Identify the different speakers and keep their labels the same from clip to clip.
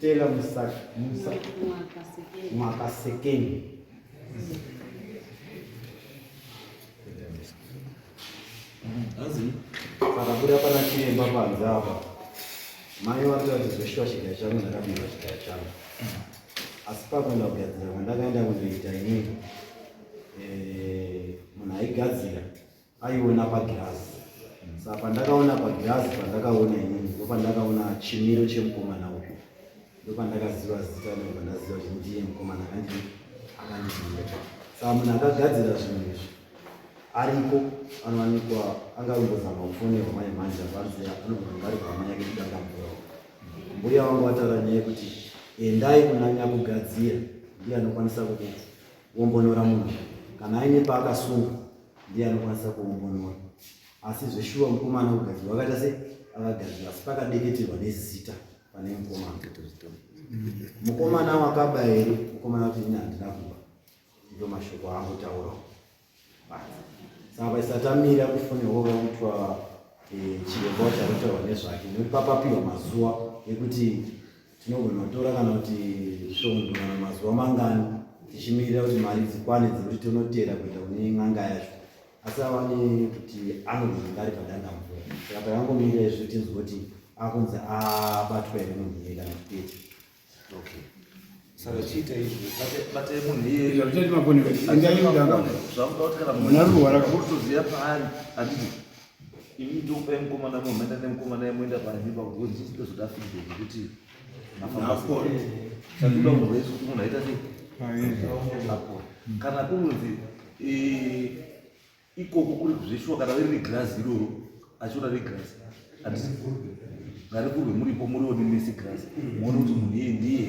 Speaker 1: Tela Musa Musa Mwakasekeni.
Speaker 2: Azi pakabuda
Speaker 1: pana chiremba panze apa mai vatoda kuti zveshuwa chigaya changu ndakapinda chigaya changu asi pakuenda kugadzira kwandakaenda kundoita ini eh, munhu aigadzira aiona pagirazi sa pandakaona pagirazi pandakaona inini ndo pandakaona chimiro chemukomana uyu ndopandakaziva zita ndobva ndaziva kuti ndiye mukomana akandi akandiziva saka munhu akagadzira zvinhu izvi ariko anowanikwa angavongozama kufonerwa mai manje avanzi anogona ari hama yake kudangamburawo mbuya wangu vataura nyaya yekuti endai kunanya kugadzira ndiye anokwanisa kuombonora munhu kana aine paakasunga ndiye anokwanisa kuombonora asi zveshuwa mukomana kugadzirwa akaita se akagadzirwa asi pakadeketerwa nezita pane mukomana mukomana wakaba here mukomana kuti ini handina kuba ndo mashoko aangotaura saka vaisatamira kufone wo vaitwa eh, chiremba wacharotaurwa nezvake nekuti papapiwa mazuva ekuti tinogona kutora kana kuti svondo kana mazuva mangani tichimirira kuti mari dzikwane dzekuti tonotera kuita kune n'anga yacho asi avane kuti anozonga ari padandamvura saka takangomira izvi tinzwa kuti akunzi abatwa here munhu iye kana kupeti okay saka
Speaker 2: chiita izvi bate munhu iyeakudakutikanamunarwara kutoziva paari anditi imi ndokupai mukomana munhu maenda nemukomana yemoenda paimba kuti ndizozodafidei nekuti kana kunonzi eh, ikoko kuri kuzvishuwa kana iri regrazi iroro achiona regrazi handisi ngarikurwe muripo muriwo nemesi grazi muone kuti munhu iye ndiye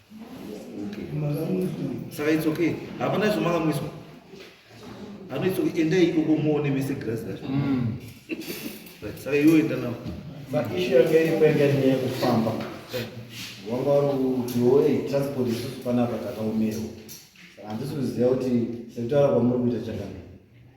Speaker 2: saka it's okay hapana zvemakamwiswa anoitso endai ikoko muone mese grazi racho mm. saka iwo enda navo maishu yanga
Speaker 1: iripo yanga iri nyaya yekufamba wanga uri kutiwo ei transport isusu panapa takaomerwa saka handisi kuziva kuti sekutaura kwamuri kuita chakanaka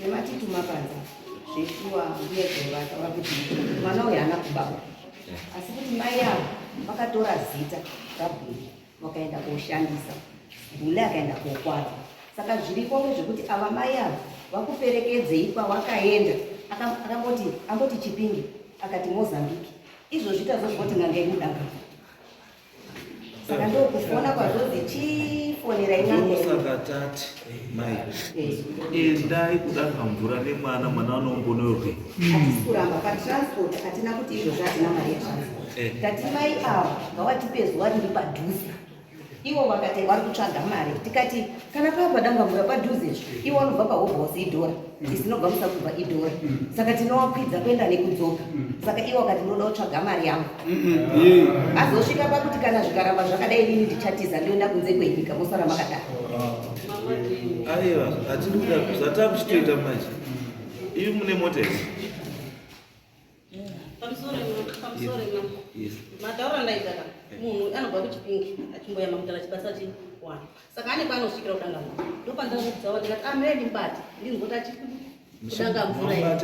Speaker 3: Nematituma panza zveshuwa mbuya dzavo vataura kuti mwana uyu haana kubawa asi kuti mai avo vakatora zita rabhuli vakaenda koshandisa bhuli akaenda kokwadza saka zviriko ngezvekuti ava mai avo vakuperekedzei kwawakaenda akamboti amboti chipinge akati mozambique izvozvi tazozvoti nangei mudanga saka ndokufona kwazvozi chifonera imausakatati
Speaker 2: mai endai kudaka mvura nemwana mwana anombonorwe atikuramba
Speaker 3: patransport hatina kuti izvozvo hatina mari yetransport eh. tati mai ava ngawatipe zuva riri padhuze ivo vakati vari kutsvaga mari tikati kana pava padangamvura padhuze iwe anobva pahobhosi idhora mm. isinobva musakubva idhora mm. saka tinowakwidza kuenda nekudzoka mm. saka iwe wakati unoda kutsvaga mari yangu azosvika pakuti kana zvikaramba zvakadai inini ndichatiza ndioenda kunze kwenyika mosara makadaro oh.
Speaker 2: aiwa hatiri kuda zvatava kuchitoita manje ivi mune mota izi
Speaker 4: mataura ndaidaka munhu anobva kuchipingi achimboyama kutala chibasa chiwana saka ane paanosvikira kudanga mvura ndopandakuudzawa ndikati ameni mbati ndinzota chikudanga mvura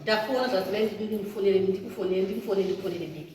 Speaker 4: tafona zvazimai ndikufonere ndikufonere ndikufonere ndikufonere biki